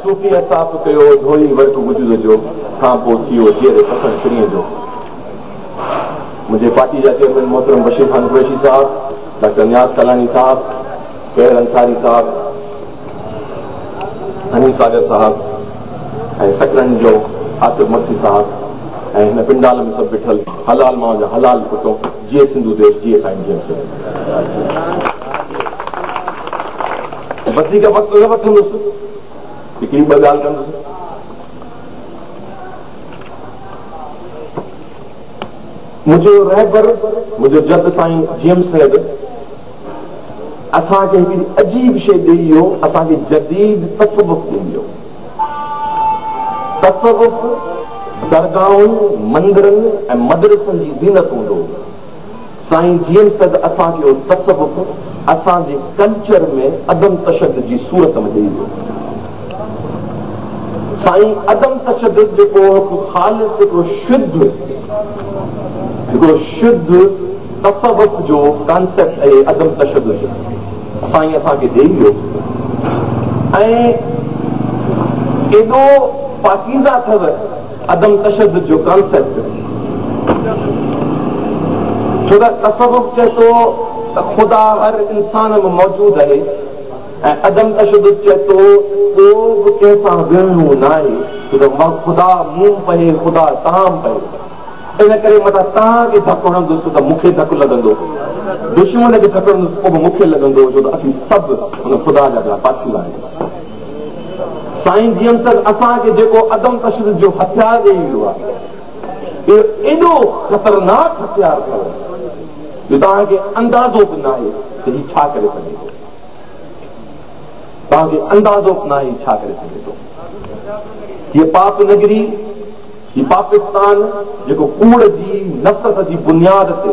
صوفيء صاف ڪيو ڌوئي ورق وجود جو، کان پوء ٿيو جيئري پسڻ پرينء جو. منهنجي پارٽي جا چيئرمين محترم بشير خان قريشي صاحب، ڊاڪٽر نياز ڪالاڻي صاحب، قير انصاري صاحب، حنيف ساگر صاحب ۽ سڪرنڊ جو آصف مگسي صاحب ۽ هن پنڊال ۾ سڀ بيٺل حلال ماء جا حلال پٽو، جيئي سنڌو ديش، جيئي سائين جي ايم سيد. وڌيڪ وقت نه وٺندس هڪڙي ٻه ڳالهه ڪندس. منهنجو رهبر منهنجو جد سائين جي ايم سيد اسان کي هڪڙي عجيب شيء ڏئي ويو اسان کي جديد تصوف ڏئي ويو تصوف درگاهن مندرن ۽ مدرسن جي زينت هوندو سائين جيئن سگهه اسان کي اهو تصوف اسان جي ڪلچر ۾ عدم تشدد جي صورت ۾ ڏئي ويو. سائين عدم تشدد جيڪو هڪ خالص هڪڙو شڌ هڪڙو شڌ تصوف جو ڪانسيپٽ اهي عدم تشدد سائين اسان کي ڏئي ويو ۽ ايڏو پاڪيزه اٿئو. عدم تشدد جو ڪانسيپٽ ڇو ته تصوف چئي ٿو ته خدا هر انسان ۾ موجود اهي ۽ عدم تشدد چئي ٿو ڪو به ڪنهن سان وڙهڻو ناهي ڇو ته خدا مون پهي خدا تان پهي ان ڪري متان تان کي ڌڪ هڻندس ته مون کي ڌڪ لڳندو دشمن کي ڌڪ هڻندس پوء به مون کي لڳندو ڇو ته اسين سڀ ان خدا جا پيا پاڇيلا آهيون. سائين جيمسن اسان کي جيڪو عدم تشدد جو هٿيار ڏيئي ويو آهي، اهو ايڏو خطرناڪ هٿيار اٿو جو توهان کي اندازو به ناهي ته هي ڇا ڪري سگهي ٿو. توهان کي اندازو به ناهي هي ڇا ڪري سگهي ٿو. هيء پاپ نگري، هي پاپستان جيڪو ڪوڙ جي نفرت جي بنياد تي،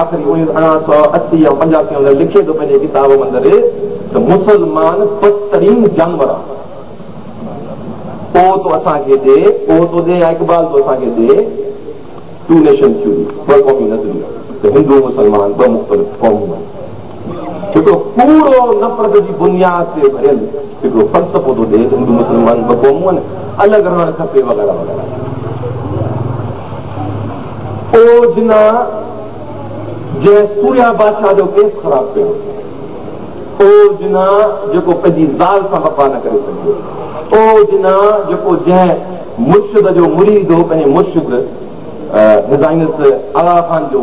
آخري اڻيهن اڻا سؤ اسي يا پنجاسي اندر لکي ٿو پنهنجي ڪتاب اندر ته مسلمان پسترين جانور آهن. اوهه تو اسان کي ڏي، اوهه تو ڏي يا اقبال تو اسان کي ڏي Two Nation Theory، ٻه قومي نظريو، ته هندو ۽ مسلمان ٻه مختلف قومون آهن. هڪڙو ڪوڙو نفرت جي بنياد تي ڀريل هڪڙو فلسفو ٿو ڏئي ته هندو مسلمان ٻه قومون آهن الڳ رهڻ کپي وغيره وغيره اوجنا جنهن سوريا بادشاهه جو ڪيس خراب ڪيو اوجنا جيڪو پنهنجي زال سان وفا نه ڪري سگهيو اوجنا جيڪو جنهن مرشد جو مريد هو پنهنجي مرشد هزائنس الاخان جو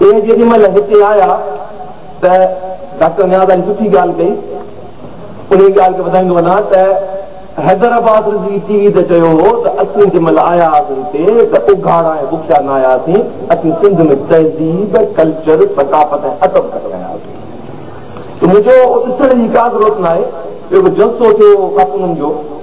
اهي جيڏي مهل هتي آيا ته ڊاڪٽر نياز علي سٺي ڳالهه ڪئي، انهي ڳالهه کي وڌائيندو وڃان ته حيدرآباد رضوي ٽي وي تي چيو هو ته اسين جنهن مهل آيا هئاسين هتي ته اگهاڙا ۽ بکيا نه آياسين، اسين سنڌ ۾ تهذيب، ڪلچر، ثقافت ۽ ادب کٽي آيا هئاسين ته منهنجو ڏسڻ جي ڪا ضرورت ناهي، اهو جلسو ٿيو خاتونن جو.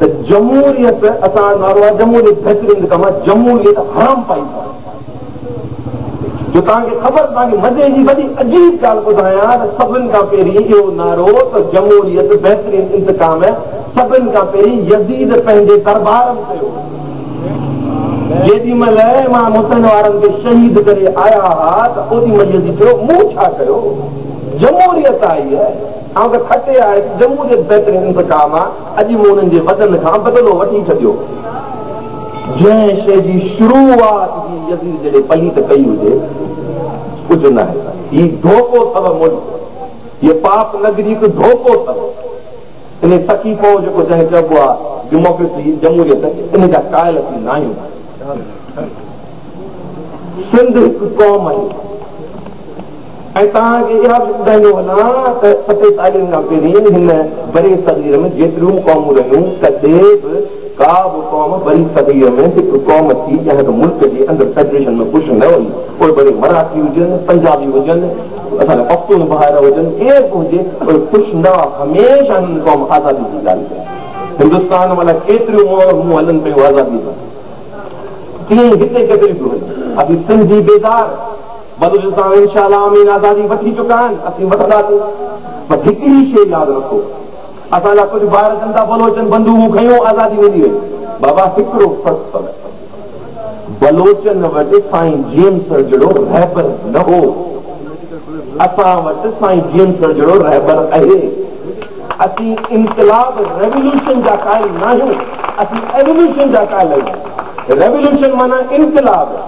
ته جمهوريت اسان جو نعرو آهي جمهوريت بهترين لکن مان جمهوريت حرام پائي سان جو توهان کي خبر توهان کي مزي جي وڏي عجيب ڳالهه ٻڌايان ته سڀن کان پهرين اهو نعرو ته جمهوريت بهترين انتقام سڀن کان پهرين يزيد پنهنجي دربار ۾ ڪيو جيڏي مهل امام حسين وارن کي شهيد ڪري آيا ها ته اوڏي مهل يزيد چيو مون ڇا ڪيو جمهوريت آئي آئون ته کٽي آء جمهوريت بهترين انتخاب آ، اڄ مون انهن جي وڏن کان بدلو وٺي ڇڏيو. جنهن شيء جي شروعات هي يزيد جهڙي پليت ڪئي هجي، ڪجهه ناهي. هي ڌوڪو ٿئو ملڪ، هيء پاپ نگري هڪ ڌوڪو ٿئو. انهي سکي پئو جيڪو جنهن چئبو آ ڊيموڪريسي، جمهوريت، انهي جا قائل اسين ناهيون. سنڌ هڪ قوم آهي. ۽ توهان کي اها به ٻڌائيندو هلان ته ستيتاليهن کان پهرين هن بري صغير ۾ جيتريون به قومون رهيون، ڪڏهن به ڪا به قوم بري صغير ۾ هڪ قوم ٿي ڄا هڪ ملڪ جي اندر فيڊريشن ۾ پش نه وئي، پوء بري مراٺي هجن، پنجابي هجن، اسان جا پختون ڀائر هجن، ڪير به هجي، اهي پش نه وئا، هميشه هنن قوم آزادي جي ڳالهه ڪئي. هندستان ۾ الائي ڪيتريون مهمون هلن پيون آزاديء جون، تيئن ئي هتي ڪيتريون پيون هلن. اسين سنڌي بيدار. بلوچستان انشاء الله آمين آزادي وٺي چڪا آهن اسين وٺنداسين پر هڪڙي شيء ياد رکو اسان جا ڪجهه ڀائر اچن ٿا بلوچن بندوقون کنيون آزادي ملي وئي بابا هڪڙو فرق پوي بلوچن وٽ سائين جيم سر جهڙو رهبر نه هو اسان وٽ سائين جيم سر جهڙو رهبر اهي اسين انقلاب ريولوشن جا قائل ناهيون اسين ايولوشن جا قائل آهيون ريولوشن معنيٰ انقلاب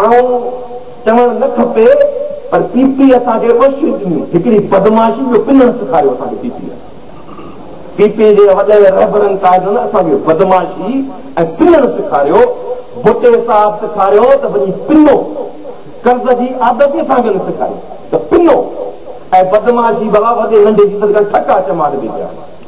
آئون چوڻ نه کپي پر پي پي اسان کي ٻه شيون ڏنيون هڪڙي بدمعاشي ٻيو پنڻ سيکاريو اسان کي پي پي پي پي جي وڏن رهبرن قائدن اسان کي بدمعاشي ۽ پنڻ سيکاريو ڀٽي صاحب سيکاريو ته وڃي پنو قرض جي عادت ئي اسان کي نه سيکاري ته پنو ۽ بدمعاشي ڀلا وڏي ننڍي جي صدقا ٺڪا چماٽ ڏي پيا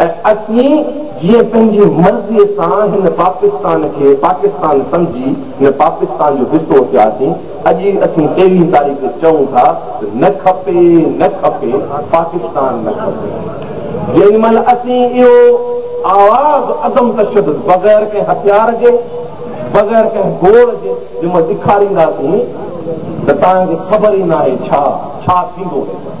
۽ اسين جيئن پنهنجي مرضيء سان هن پاڪستان کي پاڪستان سمجهي هن پاڪستان جو حصو ٿياسين، اڄ ئي اسين تيرهين تاريخ کي چئون ٿا ته نه کپي، نه کپي، پاڪستان نه کپي. جنهن مهل اسين اهو آواز عدم تشدد بغير ڪنهن هٿيار جي، بغير ڪنهن گوڙ جي جنهن مهل ڏکارينداسين ته توهان کي خبر ئي ناهي ڇا، ڇا ٿيندو هيس.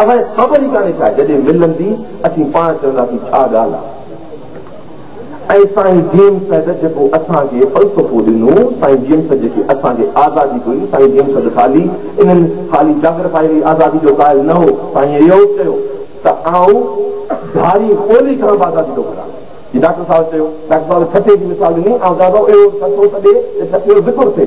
اوهين خبر ئي ڪانهي ڇا جڏهن ملندي اسين پاڻ چونداسين ڇا ڳالهه آهي ۽ سائين جيمس سيد جيڪو اسان کي فلسفو ڏنو سائين جيمس جيڪي اسان کي آزادي ڏئي سائين جيمس سيد خالي انهن خالي جاگرفائري آزادي جو قائل نه هو سائين اهو به چيو ته آئون ڌاري ٻولي کان به آزادي ٿو گهران جي ڊاڪٽر صاحب چيو ڊاڪٽر صاحب ٺٽي جي مثال ڏني آئون چاهيان ٿو اهو ٺٽو سڏي ته ٺٽي جو ذڪر ٿئي.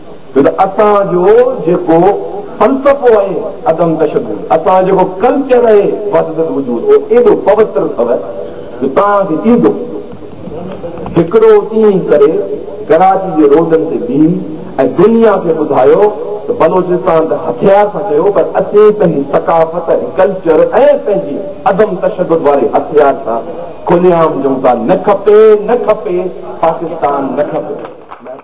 ته اسان جو جيڪو فلسفو اهي عدم تشدد، اسان جو جيڪو ڪلچر اهي وحدت الوجود اهو ايڏو پوتر اٿو جو توهان کي ايندو هڪڙو ڏينهن ڪري ڪراچي جي روڊن تي بيهي ۽ دنيا کي ٻڌايو ته بلوچستان ته هٿيار سان چيو پر اسين پنهنجي ثقافت ۽ ڪلچر ۽ پنهنجي عدم تشدد واري هٿيار سان کلي عام چئون ٿا نه کپي نه کپي پاڪستان نه کپي.